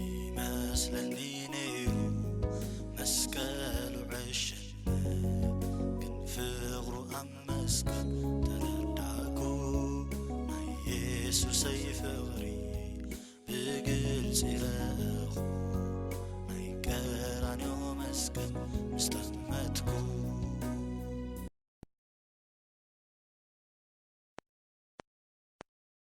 ይመስለኒ ነይሩ መስቀሉ ዕሽነት ግን ፍቕሩ ኣብ መስቀል ተረዳእኩ ናይ የሱሰይ ፍቕሪ ብግልፂ ረኣኹ ናይ ቀራንዮ መስቀል ምስ ጠመትኩ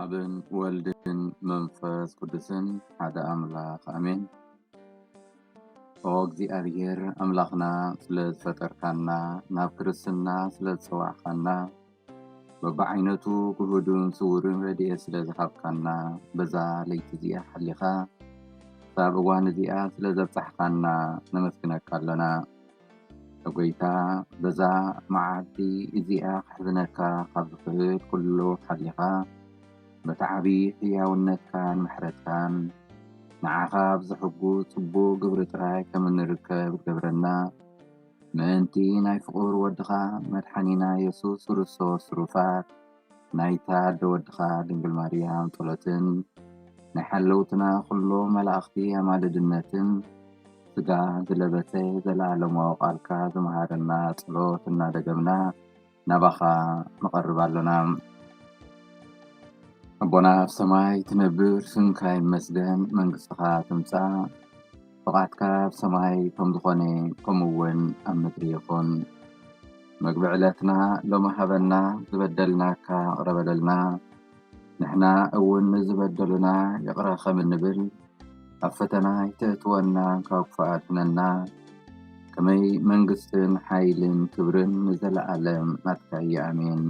ኣብን ወልድን መንፈስ ቅዱስን ሓደ ኣምላኽ ኣሜን። ኦ እግዚኣብሔር ኣምላኽና ስለ ዝፈጠርካና ናብ ክርስትና ስለ ዝጸዋዕካና በብዓይነቱ ግሁድን ስውርን ረድኤት ስለ ዝሃብካና በዛ ለይቲ እዚኣ ሓሊኻ ክሳብ እዋን እዚኣ ስለ ዘብጻሕካና ነመስግነካ ኣሎና። ጎይታ በዛ መዓልቲ እዚኣ ክሕዝነካ ካብ ዝኽእል ኩሉ ሓሊኻ በቲ ዓብዪ ሕያውነትካን ምሕረትካን ንዓኻ ኣብ ዘሕጉስ ጽቡቕ ግብሪ ጥራይ ከም እንርከብ ክትገብረና ምእንቲ ናይ ፍቁር ወድኻ መድሓኒና የሱስ ክርስቶስ ሩፋት ናይታ ኣደ ወድኻ ድንግል ማርያም ጸሎትን ናይ ሓለውትና ኩሎም መላእኽቲ ኣማልድነትን ስጋ ዝለበሰ ዘለኣለማዊ ቃልካ ዝመሃረና ጸሎት እናደገምና ናባኻ ንቐርብ ኣሎና። ኣቦና ኣብ ሰማይ ትነብር፣ ስምካ ይመስገን፣ መንግስትኻ ትምጻእ፣ ፍቓድካ ኣብ ሰማይ ከም ዝኾነ ከምኡውን ኣብ ምድሪ ይኹን። መግቢ ዕለትና ሎሚ ሃበና፣ ዝበደልናካ እቕረ በለልና፣ ንሕና እውን ንዝበደሉና ይቕረ ኸም እንብል ኣብ ፈተና ኣይተእትወና ካብ ክፉእ ኣድሕነና ከመይ መንግስትን ሓይልን ክብርን ንዘለኣለም ናትካ እዩ ኣሜን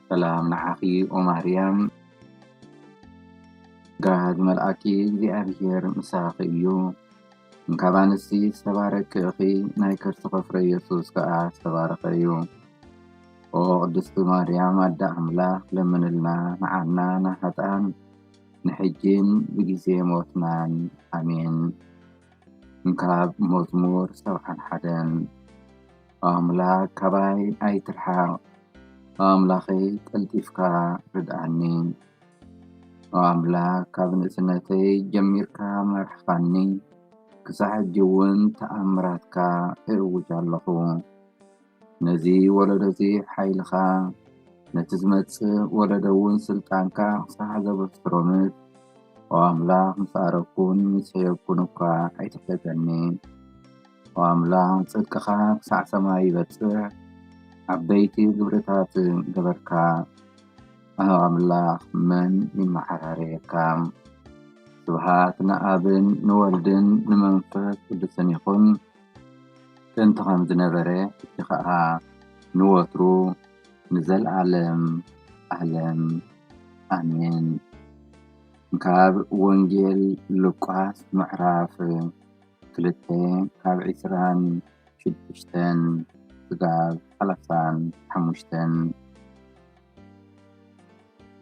ሰላም ንዓኺ ኦ ማርያም ጸጋ ዝመልኣኪ እግዚኣብሔር ምሳኺ እዩ እንካብ ኣንስቲ ዝተባረኪ ኢኺ ናይ ከርስኺ ፍረ ኢየሱስ ከኣ ዝተባረኸ እዩ ኦ ቅድስቲ ማርያም ኣደ ኣምላክ ለምንልና ንዓና ንሃጣን ንሕጂን ብግዜ ሞትናን ኣሜን። እንካብ መዝሙር ሰብዓን ሓደን ኦ ኣምላክ ካባይ ኣይትርሓቅ ኦ ኣምላከይ ቀልጢፍካ ርድኣኒ ኦ ኣምላክ ካብ ንእስነተይ ጀሚርካ መርሕካኒ ክሳዕ ሕጂ ውን ተኣምራትካ እእውጅ ኣለኩ። ነዚ ወለዶ'ዚ ሓይልኻ፣ ነቲ ዝመጽእ ወለዶ'ውን ስልጣንካ ክሳዕ ዘበስሮምስ፣ ኦ ኣምላኽ ምስ ኣረግኩን ምስ ሐየኩን እኳ ኣይትሕተተኒ። ኦ ኣምላኽ ጽድቅኻ ክሳዕ ሰማይ ይበጽሕ፣ ዓበይቲ ግብርታት ገበርካ። ኣህ ኣምላኽ መን ይመሓራረየካ። ስብሃት ንኣብን ንወልድን ንመንፈስ ቅዱስን ይኹን። ጥንቲ ከም ዝነበረ ሕጂ ከኣ ንወትሩ ንዘልኣለም ኣለም ኣሜን። ካብ ወንጌል ሉቃስ ምዕራፍ ክልተ ካብ ዕስራን ሽዱሽተን ክሳብ ሰላሳን ሓሙሽተን።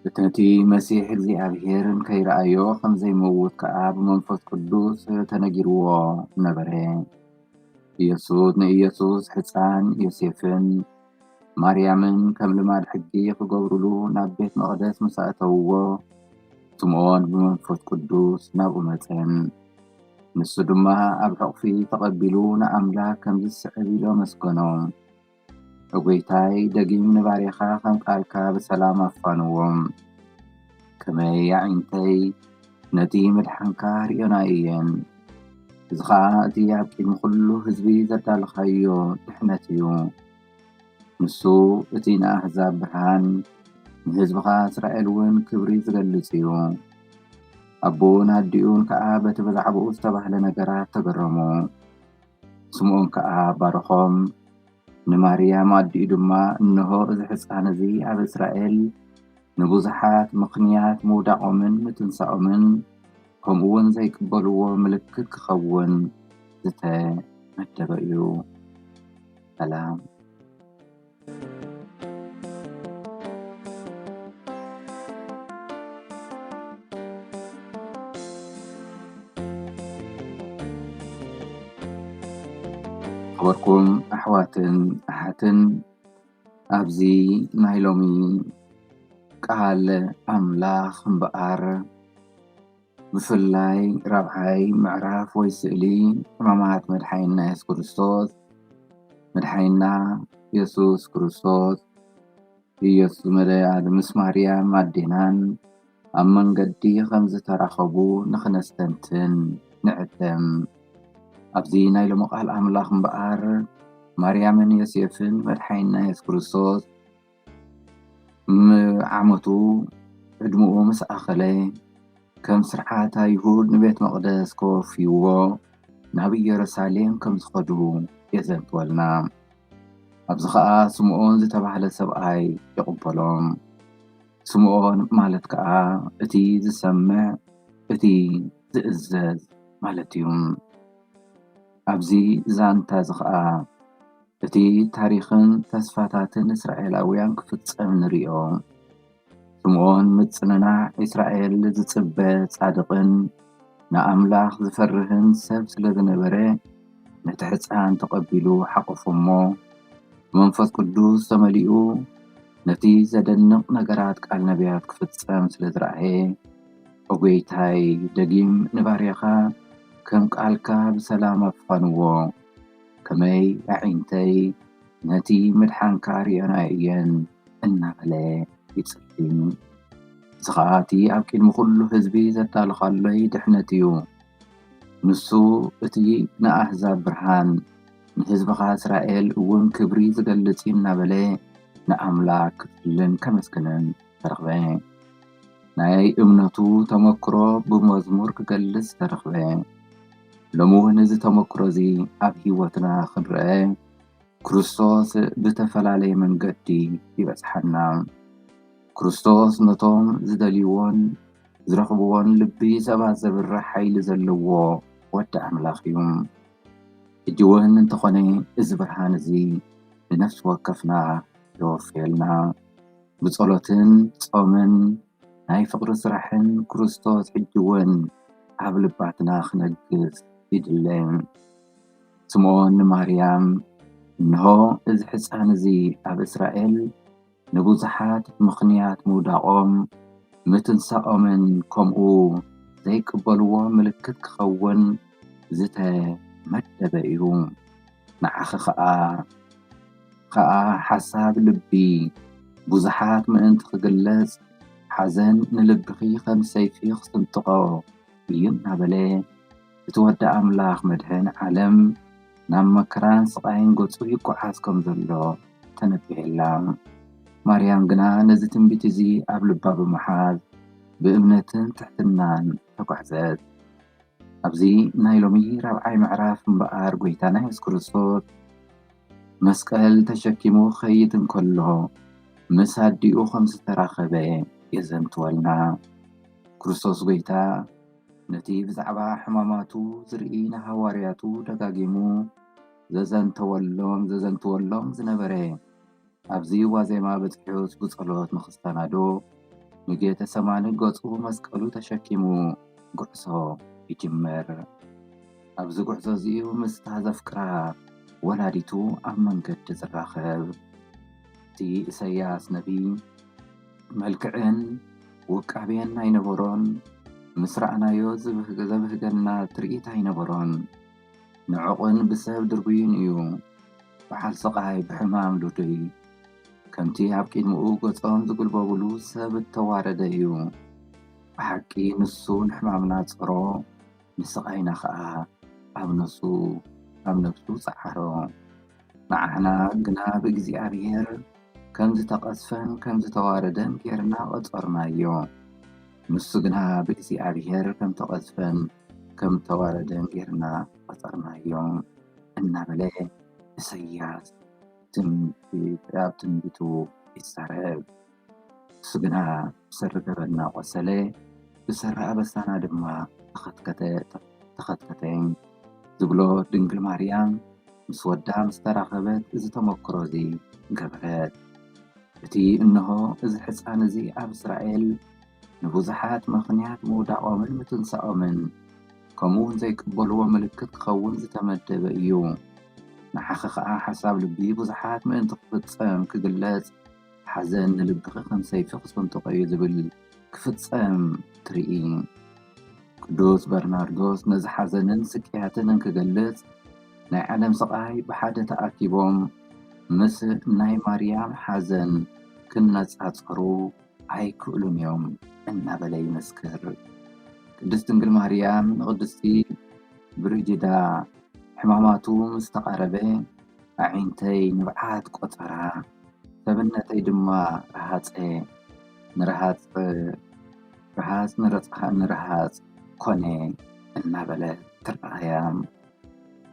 ፍጥነቲ መሲሕ እግዚኣብሄርን ከይረኣዮ ኸም ዘይመውት ከኣ ብመንፈስ ቅዱስ ተነጊርዎ ነበረ። ኢየሱስ ንኢየሱስ ሕፃን ዮሴፍን ማርያምን ከም ልማድ ሕጊ ክገብሩሉ ናብ ቤት መቕደስ ምስ ኣእተውዎ ስምዖን ብመንፈስ ቅዱስ ናብኡ መጸን። ንሱ ድማ ኣብ ሕቝፊ ተቐቢሉ ንኣምላኽ ከምዚ ዝስዕብ ኢሉ ኣመስገኖ። እጎይታይ ደጊም ንባርያኻ ከም ቃልካ ብሰላም ኣፋንዎ ከመይ ኣዒንተይ ነቲ ምድሓንካ ርእዮና እየን እዚ ኸኣ እቲ ኣብ ቅድሚ ኩሉ ህዝቢ ዘዳለኻዮ ድሕነት እዩ ንሱ እቲ ንኣህዛብ ብርሃን ንህዝብኻ እስራኤል እውን ክብሪ ዝገልጽ እዩ ኣቦኡን ኣዲኡን ከኣ በቲ ብዛዕባኡ ዝተባህለ ነገራት ተገረሙ። ስምዖን ከኣ ባረኾም፣ ንማርያም ኣዲኡ ድማ፣ እንሆ እዚ ሕፃን እዚ ኣብ እስራኤል ንብዙሓት ምኽንያት ምውዳቖምን ምትንሳኦምን ከምኡውን ዘይቅበልዎ ምልክት ክኸውን ዝተመደበ እዩ። ሰላም። ዝኸበርኩም ኣሕዋትን ኣሓትን ኣብዚ ናይ ሎሚ ቃል ኣምላኽ እምበኣር። ብፍላይ ራብዓይ ምዕራፍ ወይ ስእሊ ሕማማት መድሓኒና የሱስ ክርስቶስ መድሓኒና የሱስ ክርስቶስ ኢየሱስ መድሃኒና ምስ ማርያም ኣዴናን ኣብ መንገዲ ከም ዝተራኸቡ ንኽነስተንትን ንዕደም። ኣብዚ ናይ ሎሚ ቃል ኣምላኽ እምበኣር ማርያምን ዮሴፍን መድሓኒና የሱስ ክርስቶስ ዓመቱ ዕድመኡ ምስ ኣኸለ ከም ስርዓት ኣይሁድ ንቤት መቅደስ ከወፍይዎ ናብ እየሩሳሌም ከም ዝኸዱ የዘንትወልና። ኣብዚ ከዓ ስምዖን ዝተባህለ ሰብኣይ ይቕበሎም። ስምዖን ማለት ከዓ እቲ ዝሰምዕ እቲ ዝእዘዝ ማለት እዩ። ኣብዚ ዛንታ እዚ ከዓ እቲ ታሪኽን ተስፋታትን እስራኤላውያን ክፍጸም ንርእዮ። ስምዖን ምጽንናዕ እስራኤል ዝጽበ ጻድቕን ንኣምላኽ ዝፈርህን ሰብ ስለ ዝነበረ፣ ነቲ ሕጻን ተቐቢሉ ሓቖፎ እሞ፣ ብመንፈስ ቅዱስ ተመሊኡ ነቲ ዘደንቕ ነገራት ቃል ነብያት ክፍጸም ስለ ዝረኣየ፣ ኦ ጐይታይ፣ ደጊም ንባርያኻ ከም ቃልካ ብሰላም ኣፋንዎ። ከመይ ኣዒንተይ ነቲ ምድሓንካ ሪኤናዮ እየን እናበለ ይጽልይ። እዚ ኸኣ እቲ ኣብ ቅድሚ ኹሉ ህዝቢ ዘዳሎኻሎይ ድሕነት እዩ። ንሱ እቲ ንኣህዛብ ብርሃን፣ ንህዝብኻ እስራኤል እውን ክብሪ ዝገልጽ እዩ እናበለ ንኣምላኽ ክጽልን ከመስግንን ተረኽበ። ናይ እምነቱ ተመክሮ ብመዝሙር ክገልጽ ተረኽበ። ሎሚ እውን እዚ ተመክሮ እዚ ኣብ ህይወትና ክንርኣ ክርስቶስ ብተፈላለየ መንገዲ ይበጽሓና። ክርስቶስ ነቶም ዝደልይዎን ዝረኽብዎን ልቢ ሰባት ዘብርህ ሓይሊ ዘለዎ ወዲ ኣምላኽ እዩ። ሕጂ እውን እንተኾነ እዚ ብርሃን እዚ ንነፍሲ ወከፍና የወፍየልና። ብጸሎትን ጾምን ናይ ፍቅሪ ስራሕን ክርስቶስ ሕጂ ውን ኣብ ልባትና ክነግስ ይድለ። ስምኦን ንማርያም እንሆ እዚ ሕጻን እዚ ኣብ እስራኤል ንብዙሓት ብምኽንያት ምውዳቆም ምትንሳኦምን ከምኡ ዘይቅበልዎ ምልክት ክኸውን ዝተመደበ እዩ። ንዓኺ ከኣ ከኣ ሓሳብ ልቢ ብዙሓት ምእንቲ ክግለጽ ሓዘን ንልብኺ ከም ሰይፊ ክስንጥቆ እዩ እናበለ እቲ ወዲ ኣምላኽ መድሕን ዓለም ናብ መከራን ስቓይን ገጹ ይጎዓዝ ከም ዘሎ ተነቢሔላ። ማርያም ግና ነዚ ትንቢት እዚ ኣብ ልባ ብምሓዝ ብእምነትን ትሕትናን ተጓዕዘት። ኣብዚ ናይ ሎሚ ራብዓይ ምዕራፍ እምበኣር ጐይታና የሱስ ክርስቶስ መስቀል ተሸኪሙ ክኸይድ እንከሎ ምስ ኣዲኡ ከም ዝተራኸበ የዘንትወልና። ክርስቶስ ጐይታ ነቲ ብዛዕባ ሕማማቱ ዝርኢ ንሃዋርያቱ ደጋጊሙ ዘዘንተወሎም ዘዘንትወሎም ዝነበረ ኣብዚ ዋዜማ በጺሑ ስቡ ጸሎት ንክሰናዶ ንጌተ ሰማኒ ገጹ መስቀሉ ተሸኪሙ ጉዕዞ ይጅምር። ኣብዚ ጉዕዞ እዚ'ዩ ምስታ ዘፍቅራ ወላዲቱ ኣብ መንገዲ ዝራኸብ። እቲ እሰያስ ነብይ መልክዕን ውቃቤን ኣይነበሮን፣ ምስ ረኣናዮ ዘብህገና ትርኢት ኣይነበሮን። ንዕቕን ብሰብ ድርብዩን እዩ ብዓል ስቓይ ብሕማም ሉዱይ ከምቲ ኣብ ቂድምኡ ገጾም ዝጉልበቡሉ ሰብ እተዋረደ እዩ ብሓቂ ንሱ ንሕማምና ጸሮ ንስቓይና ኸኣ ኣብ ነፍሱ ኣብ ነፍሱ ጸዓሮ ንዓና ግና ብእግዚኣብሔር ከም ዝተቐዝፈን ከም ዝተዋረደን ጌርና ቐጸርናዮ ንሱ ግና ብእግዚኣብሔር ከም ተቐዝፈን ከም እተዋረደ ጌርና ቈጸርናዮ እናበለ ኢሳይያስ ኣብ ትንቢቱ ይዛረብ። ንሱ ግና ብሰሪ ገበንና ቈሰለ፣ ብሰሪ ኣበሳና ድማ ተኸትከተ ዝብሎ ድንግል ማርያም ምስ ወዳ ምስ ተራኸበት እዚ ተመክሮ እዚ ገበረት። እቲ እንሆ እዚ ሕጻን እዚ ኣብ እስራኤል፣ ንብዙሓት ምኽንያት ምውዳቖምን ምትንሳኦምን ከምኡውን ዘይቅበልዎ ምልክት ክኸውን ዝተመደበ እዩ። ንዓኺ ኸኣ ሓሳብ ልቢ ብዙሓት ምእንቲ ክፍጸም፣ ክግለጽ፣ ሓዘን ንልብኺ ከም ሰይፊ ክስንጥቖ እዩ ዝብል ክፍጸም ትርኢ። ቅዱስ በርናርዶስ ነዚ ሓዘንን ስቅያትን እንክገልጽ ናይ ዓለም ስቓይ ብሓደ ተኣኪቦም ምስ ናይ ማርያም ሓዘን ክነጻጸሩ ኣይክእሉን እዮም እናበለ ይመስክር። ቅድስት ድንግል ማርያም ንቅድስቲ ብርጅዳ ሕማማቱ ምስ ተቓረበ ኣዒንተይ ንብዓት ቆጸራ፣ ሰብነተይ ድማ ረሃጸ፣ ንረሃጽ ረሃጽ ንረሃጽ ኮነ እናበለት ትረኣያ።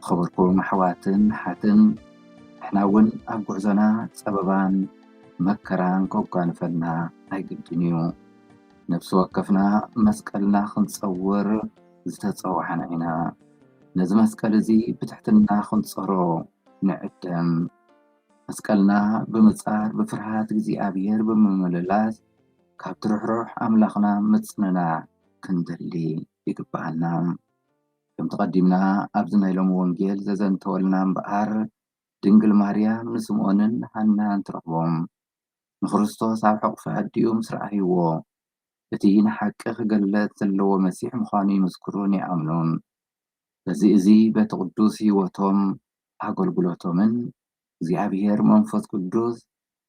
ዝኸበርኩም ኣሕዋትን ኣሓትን ንሕና እውን ኣብ ጉዕዞና ፀበባን መከራን ከጓንፈና ኣይግድን እዩ። ነፍሲ ወከፍና መስቀልና ክንፀውር ዝተፀዋዕና ኢና። ነዚ መስቀል እዚ ብትሕትና ክንፀሮ ንዕደም። መስቀልና ብምፃር ብፍርሃት እግዚኣብሔር ብምምልላስ ካብቲ ርሕሩሕ ኣምላኽና ምፅንናዕ ክንደሊ ይግበኣና። ከምቲ ቀዲምና ኣብዚ ናይ ሎሚ ወንጌል ዘዘንተወልና እምበኣር ድንግል ማርያም ንስምኦንን ሃናን ትረኽቦም። ንክርስቶስ ኣብ ሕቑፊ ኣዲኡ ምስ ረኣይዎ እቲ ንሓቂ ክገለጽ ዘለዎ መሲሕ ምዃኑ ይምስክሩን ይኣምኑን። በዚ እዚ በቲ ቅዱስ ሕይወቶም ኣገልግሎቶምን እግዚኣብሔር መንፈስ ቅዱስ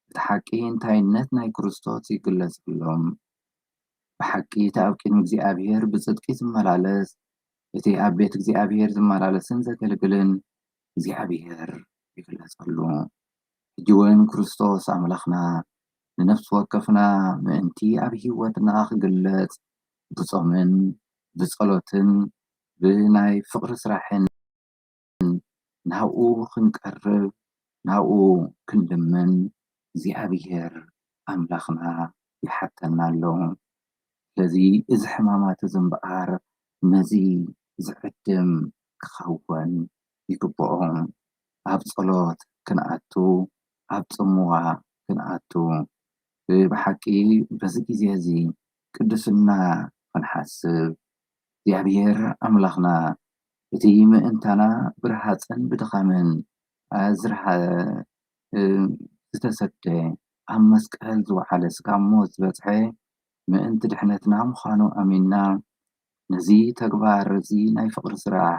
እቲ ሓቂ እንታይነት ናይ ክርስቶስ ይግለጸሎም። ብሓቂ እቲ ኣብ ቅድሚ እግዚኣብሄር ብጽድቂ ዚመላለስ፣ እቲ ኣብ ቤት እግዚኣብሄር ዚመላለስን ዘገልግልን፣ እግዚኣብሄር ይግለጸሉ። ሕጂውን ክርስቶስ ኣምላኽና ንነፍሲ ወከፍና ምእንቲ ኣብ ህይወትና ኺግለጽ ብጾምን ብጸሎትን ብናይ ፍቕሪ ስራሕን፣ ግን ናብኡ ክንቀርብ ናብኡ ክንልምን እግዚኣብሔር ኣምላኽና ይሓተና ኣሎ። ስለዚ እዚ ሕማማት እዚ እምበኣር ነዚ ዝዕድም ክኸውን ይግብኦ። ኣብ ጸሎት ክንኣቱ ኣብ ጽምዋ ክንኣቱ ብሓቂ በዚ ግዜ እዚ ቅድስና ክንሓስብ እግዚኣብሔር ኣምላኽና እቲ ምእንታና ብረሃጽን ብድኻምን ኣዝርሃ ዝተሰደ ኣብ መስቀል ዝወዓለ ስጋብ ሞት ዝበጽሐ ምእንቲ ድሕነትና ምዃኑ ኣሚንና ነዚ ተግባር እዚ ናይ ፍቕሪ ስራሕ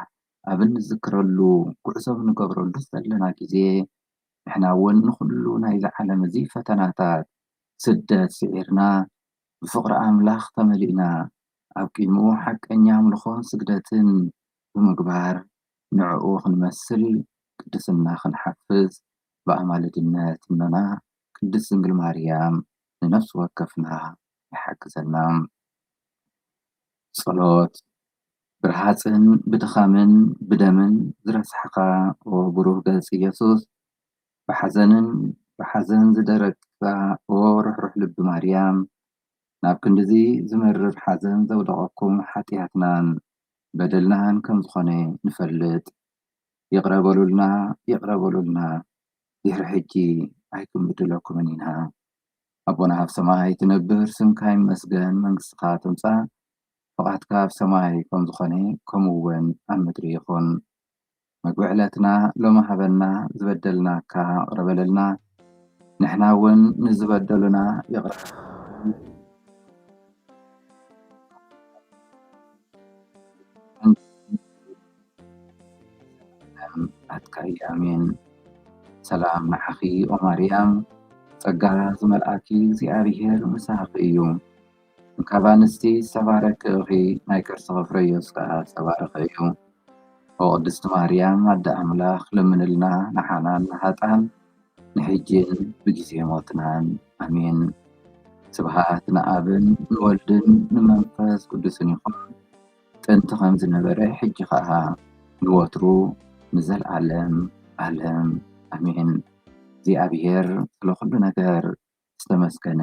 ኣብ እንዝክረሉ ጉዕዞ ኣብ ንገብረሉ ዘለና ግዜ ንሕና እውን ንኹሉ ናይዚ ዓለም እዚ ፈተናታት ስደት ስዒርና ብፍቕሪ ኣምላኽ ተመሊእና ኣብ ቅድሚኡ ሓቀኛ ኣምልኾን ስግደትን ብምግባር ንዕኡ ክንመስል ቅድስና ክንሓፍስ ብኣማልድነት እኖና ቅድስት ድንግል ማርያም ንነፍሲ ወከፍና ይሓግዘና። ጸሎት፣ ብረሃጽን ብድኻምን ብደምን ዝረስሓኻ ኦ ብሩህ ገጽ ኢየሱስ፣ ብሓዘንን ብሓዘን ዝደረቅካ ኦ ርሕሩሕ ልቢ ማርያም፣ ናብ ክንድዚ ዝመርር ሓዘን ዘውደቐኩም ሓጥያትናን በደልናን ከም ዝኾነ ንፈልጥ ይቕረ በሉልና ይቕረ በሉልና ድሕሪ ሕጂ ኣይክንብድለኩምን ኢና ኣቦና ኣብ ሰማይ ትነብር ስምካ ይመስገን መንግስትኻ ትምጻእ ፍቓድካ ኣብ ሰማይ ከም ዝኾነ ከምኡውን ኣብ ምድሪ ይኹን። መግቢ ዕለትና ሎሚ ሃበና ዝበደልናካ ይቅረ በለልና ንሕና እውን ንዝበደሉና ይቅረ ናትካዩ ኣሜን ሰላም ንዓኺ ኦማርያም ፀጋ ዝመልኣኪ እግዚኣብሔር ምሳኺ እዩ። ካብ ኣንስቲ ዝተባረኪ እኺ ናይ ከርስኺ ፍረዮስ ከኣ ዝተባረኸ እዩ ኦ ቅድስቲ ማርያም ኣደ ኣምላኽ ለምንልና ንዓና ንሃጥኣን ንሕጂን ብጊዜ ሞትናን ኣሜን ስብሃት ንኣብን ንወልድን ንመንፈስ ቅዱስን ይኹን ጥንቲ ከም ዝነበረ ሕጂ ከኣ ንወትሩ ንዘልኣለም ኣለም ኣሜን እግዚኣብሄር ስለ ኩሉ ነገር ዝተመስገነ